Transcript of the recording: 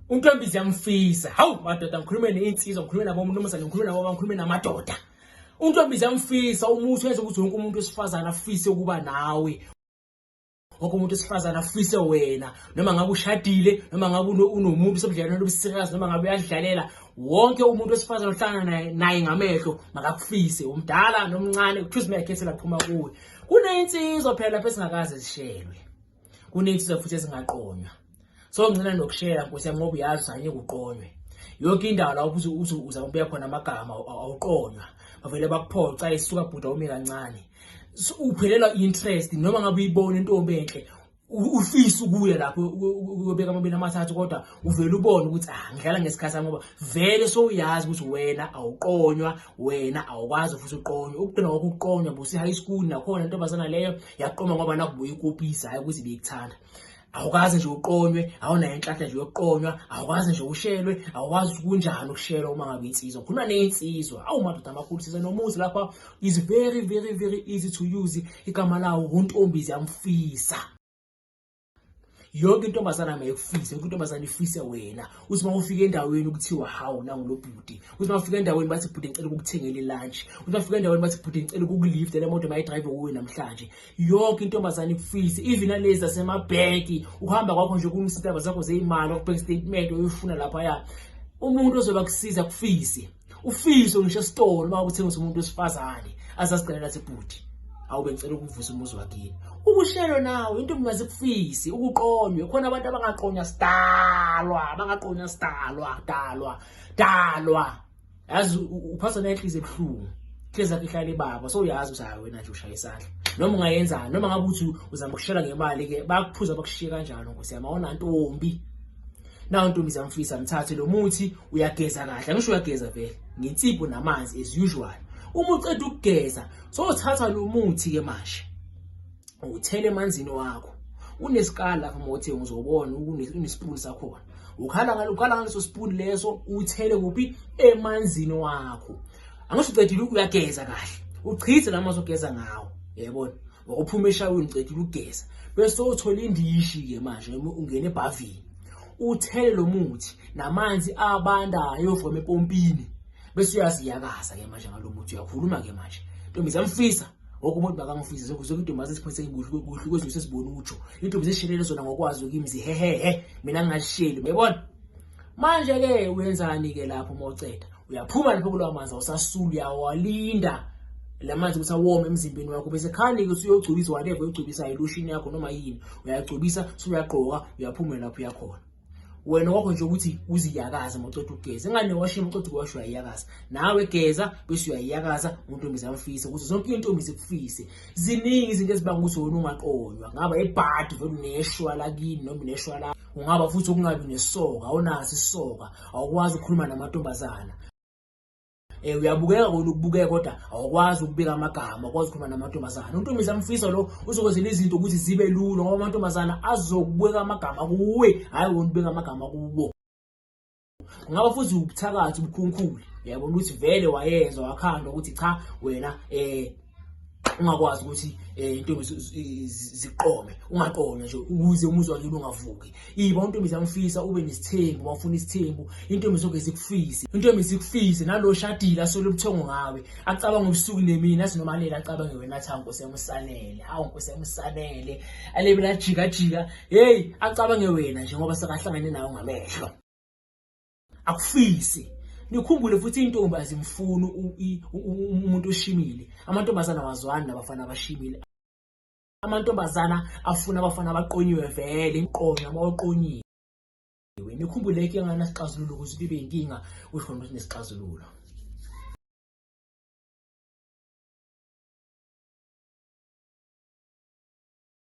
Untombi ziyamfisa. Hawu madoda ngikhulume neinsizwa, ngikhulume nabo mnumzane, ngikhulume nabo baba, ngikhulume namadoda. Untombi ziyamfisa umuthi wenza ukuthi wonke umuntu wesifazane afise ukuba nawe. Wonke umuntu wesifazane afise wena noma ngabe ushadile noma ngabe unomuntu usebudlelwane obusikazi noma ngabe uyadlalela wonke umuntu wesifazane ohlangana naye naye ngamehlo makakufise umdala nomncane kuthiwa uzimeyakhethela phuma kuwe. Kuneynsizwa phela lapho esingakaze zishelwe. kunezinsizwa futhi ezingaqonywa so ngicela nokushela nkosi yami ngoba uyazi sanye kuqonywe yonke indawo la ubuze uze uza ubuya khona amagama awuqonywa bavele bakuphoca isuka bhuda ume kancane uphelelwa interest noma ngabe uyibona intombi enhle ufisa ukuya lapho ubeka amabili amathathu kodwa uvele ubone ukuthi ah ngidlala ngesikhathi ngoba vele sowuyazi ukuthi wena awuqonywa wena awukwazi futhi uqonywe ukugcina kwakho ukuqonywa busi high school nakhona intombazana leyo yaqoma ngoba nakubuya ikopisa hayi ukuthi beyikuthanda awukwazi nje uqonywe awunayo inhlanhla nje yokuqonywa awukwazi nje ushelwe awukwazi kunjani ukushelwa uma ngabe insizwa khona neyinsizwa awu madoda amakhulu size nomuzi lapha is very very very easy to use igama lawo untombi ziyamfisa yonke intombazane angayekufise yonke intombazane ifise wena uthi uma ufika endaweni kuthiwa hawu nangulo bhuti uthi uma ufika endaweni bathi bhuti ngicela ukukuthengela ilunch uthi uma ufika endaweni bathi bhuti ngicela ukukulifta le moto mayidrive kuwe namhlanje yonke intombazane ikufise even alezi zasemabheki uhamba kwakho nje kunisitaba zakho zeyimali okubheka istatement oyifuna laphaya umuntu ozoba kusiza kufise ufiso ngisho esitolo uma uthengisa umuntu wesifazane azazicelela sebhuti awube ngicela ukuvusa umuzi wakini ukushelo nawo into kungaze kufisi ukuqonywe khona abantu abangaqonywa sidalwa abangaqonywa sidalwa dalwa dalwa yazi uphatha nenhliziyo ebuhlungu hlezi akhe ihlale baba so uyazi uzayo wena nje ushaya isandla noma ungayenzani noma ngabe uthi uzama ukushela ngemali ke bakuphuza bakushiye kanjalo nkosi yami awona ntombi Nawu ntombi zamfisa mthathe lo muthi uyageza kahle ngisho uyageza vele ngensipho namanzi as usual. Uma uceda ukugeza sowuthatha lo muthi ke manje uthele emanzini wakho unesikala lapha mothe ngizobona unespoon sakhona ukhala ngalo ukhala ngaleso spoon leso uthele kuphi emanzini wakho angisho ucedile uyageza kahle uchithe lamanzi ogeza ngawo yayibona wawuphuma eshaweni uceda ukugeza bese uthola indishi ke manje ungena ebhavini uthele lo muthi namanzi abandayo from epompini bese uyaziyakaza ke manje ngalo muthi uyakhuluma ke manje ntombi zamfisa ngoku umuntu bakangifisi zokuze intombi asesikhathi kuhle kuhle kwezinto sesibona utsho intombi zishelele zona ngokwazi ukimi zihehehe mina ngingasheli uyabona manje ke uyenzani ke lapho moceda uyaphuma lapho kulawa manzi awusasulu uyawalinda lamanzi ukuthi awome emzimbeni wakho bese khani ukuthi uyogcobisa whatever uyogcobisa ilotion yakho noma yini uyagcobisa suyagqoka uyaphuma lapho uyakhona wena wakho nje ukuthi uziyakaze moceda ukugeza ingane washini moceda ukuwasha uyayiyakaza nawe geza bese uyayiyakaza untombi zamfise ukuthi zonke intombi zikufise ziningi izinto ezibanga ukuthi wena ungaqonywa ngaba ebhadi vele uneshwa lakini noma uneshwa la ungaba futhi ukungabi nesoka awunaso isoka awukwazi ukukhuluma namantombazana eh uyabukeka ukubukeka kodwa awukwazi ukubika amagama kwazi ukukhuluma namantombazana untombiza amfisa lo uzokwenzela izinto ukuthi zibe lula ngoba amantombazana azokubeka amagama kuwe hayi wona ubeka amagama kubo kungaba futhi ubuthakathi ubukhunkhuli yabo ukuthi vele wayezwa wakhandwa ukuthi cha wena eh ungakwazi ukuthi eh, intombi ziqome ungaqome nje ukuze umuzwa wakhe ungavuki iba intombi zamfisa ube nesithembu wafuna isithembu intombi zonke zikufise intombi zikufise nalo shadile asole ubuthongo ngawe acabanga ubusuku nemini athi noma leli acabange wena athi nkosi yamusanele hawu nkosi yamusanele alebe lajika jika heyi acabange wena njengoba sekahlangene nawo ngamehlo akufisi nikhumbule futhi intombi azimfuni umuntu oshimile amantombazana wazwani nabafana abashimile amantombazana afuna abafana abaqonyiwe vele imqonyo abawaqonyiwe nikhumbule ke ngana sixazululo ukuthi bibe inkinga usho ukuthi nesixazululo